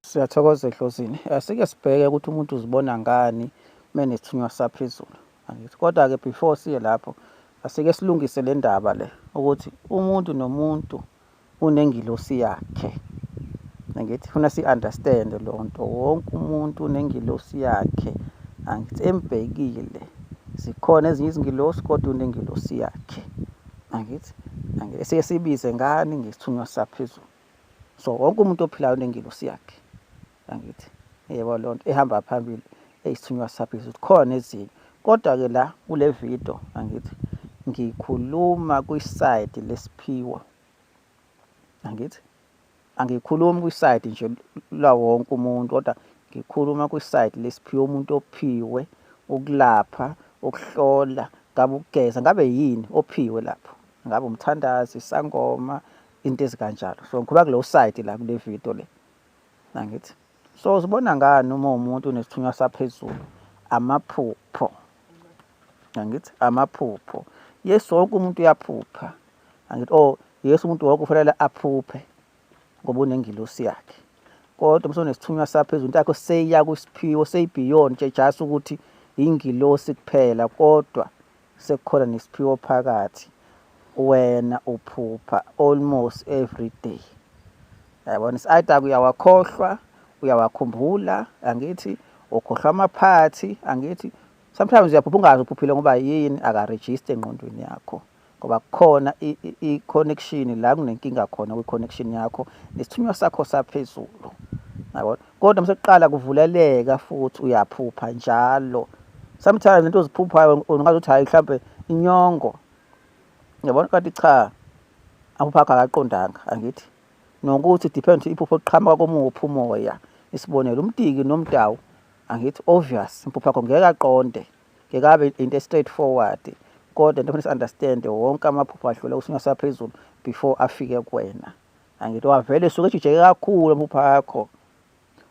Siyathokoza ehlozini. Asike sibheke ukuthi umuntu uzibona ngani menesithunywa saphezulu. Angithi kodwa ke before siye lapho asike silungise le ndaba le ukuthi umuntu nomuntu unengilosi yakhe. Angithi funa si understand lo nto wonke umuntu unengilosi yakhe. Angithi embhekile zikhona ezinye izingilosi kodwa unengilosi yakhe. Angithi angeke siye sibize ngani ngesithunywa saphezulu. so wonke umuntu ophilayo unengilosi yakhe angithi yebo loo nto ehamba phambili eyisithunywa saphezulu ukuthi khona ezinye kodwa-ke la kule video angithi ngikhuluma kwisayidi lesiphiwo angithi angikhulumi kwisayidi nje lawonke umuntu kodwa ngikhuluma kwisayidi lesiphiwo umuntu ophiwe ukulapha ukuhlola ngabe ukugeza ngabe yini ophiwe lapho ngabe umthandazi isangoma into ezikanjalo so ngikhuluma kuleyo side la kule video le nangithi so uzibona ngani uma umuntu unesithunywa saphezulu amaphupho nangithi amaphupho yesu wonke umuntu uyaphupha angithi oh yesu umuntu wonke ufanele aphuphe ngoba unengilosi yakhe kodwa mse unesithunywa saphezulu into yakho seyiya kwisiphiwo seyibeyond nje just ukuthi ingilosi kuphela kodwa sekukhona nesiphiwo phakathi wena uphupha almost every day yabona either uyawakhohlwa uyawakhumbula angithi ukhohlwa amaphathi angithi sometimes uyaphupha ungazi uphuphile ngoba yini akaregister engqondweni yakho ngoba kukhona i-connection la kunenkinga khona kwi-connection yakho nesithunywa sakho saphezulu yabona kodwa msekuqala kuvuleleka futhi uyaphupha njalo sometimes into oziphuphayo ungazi ukuthi hayi mhlawumbe inyongo yabona kanti cha amaphupho akho akaqondanga angithi nokuthi depend iphupho liqhamuka komuphi umoya isibonelo umtiki nomdawu angithi obvious impupho yakho ngeke aqonde ngeke abe into straight forward kodwa into kufanele understand wonke amaphupho adlule usinga saphezulu before afike kuwena angithi wavele usuke ejijeke kakhulu amaphupha akho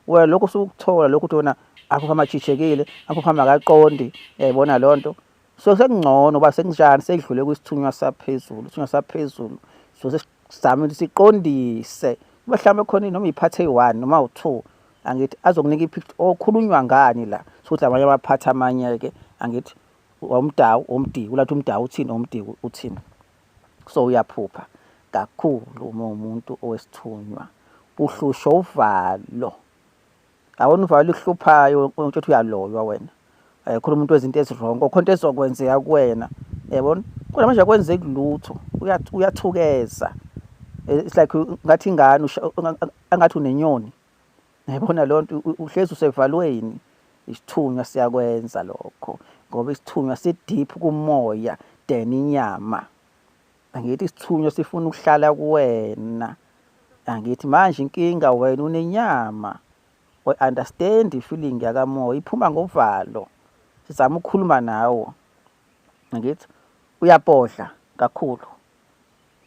wena lokhu usukuthola lokhu ukuthi wena aphupha amajijekile aphupha makaqondi yayibona loo nto so sekungcono uba sekunjani sekudlule kwisithunywa saphezulu isithunywa saphezulu so sesizame ukuthi siqondise kube mhlawumbe khona noma iphathe eyi-one noma u-two angithi azokunika ipicture okhulunywa ngani la sokuthi amanye amaphathi amanye-ke angithi wawumdawu womdiki ulathi umdawu uthini womdiki uthini so uyaphupha kakhulu uma umuntu owesithunywa uhlushwa uvalo awona uvalo uhluphayo ukuthi uyaloywa wena eh, khona umuntu wezinto ezirongo khona into ezokwenzeka kuwena yabona kodwa manje akwenzeki lutho uyathukeza it's like ngathi ingane angathi unenyoni Yabona lo nto uhlezi usevalweni isithunywa siyakwenza lokho ngoba isithunywa si-deep kumoya than inyama angithi isithunywa sifuna ukuhlala kuwena angithi manje inkinga wena unenyama we understand ifeeling yakamoya iphuma ngovalo sizama ukukhuluma nawo angithi uyabhodla kakhulu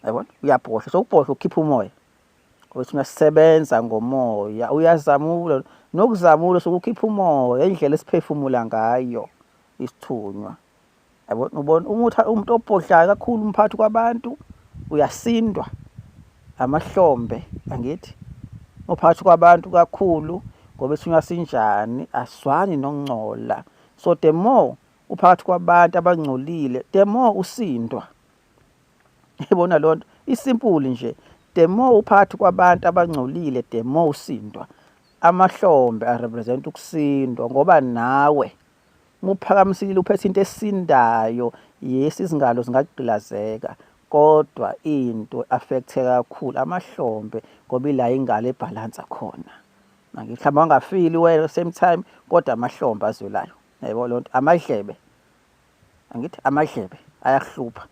yabona uyabhodla so ubhodla ukhipha umoya ukuthi masisebenza ngomoya uyazamula nokuzamula sokukhipha umoya indlela esiphefumula ngayo isithunywa yabona ubona umuthi umuntu obhodlayo kakhulu umphathi kwabantu uyasindwa amahlombe angithi uphathi kwabantu kakhulu ngoba isithunywa sinjani aswani nongcola so the more uphakathi kwabantu abangcolile the more usindwa Yibona loo nto isimpuli nje the more uphakathi kwabantu abangcolile the more usindwa amahlombe arepresent ukusindwa ngoba nawe muphakamisilile uphethe into esindayo yes izingalo zingagqilazeka kodwa into affecthe kakhulu amahlombe ngoba ila ingalo ebhalansa khona mangithi mhlawumbe angafili wena same time kodwa amahlombe azwelayo yebo lonto amadlebe angithi amadlebe ayakuhlupha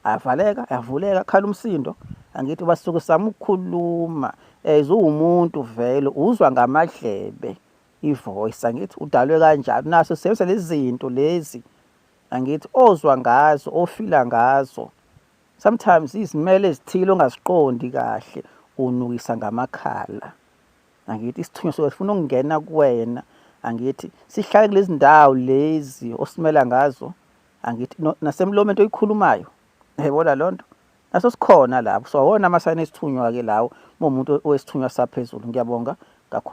ayavaleka ayavuleka khala umsindo angithi ubasuke sama ukukhuluma as uwumuntu vele uzwa ngamadlebe ivoice angithi udalwe kanjalo naso sebenzisa lezi zinto lezi angithi ozwa ngazo ofila ngazo sometimes izimele ezithile ongaziqondi kahle unukisa ngamakhala angithi isithunywa soke sifuna ukungena kuwena angithi sihlale kulezi ndawo lezi osimela ngazo angithi nasemlomeni oyikhulumayo yayibona loo nto naso sikhona lapho so awona amasayini esithunywa-ke lawo uma umuntu owesithunywa saphezulu ngiyabonga kakhulu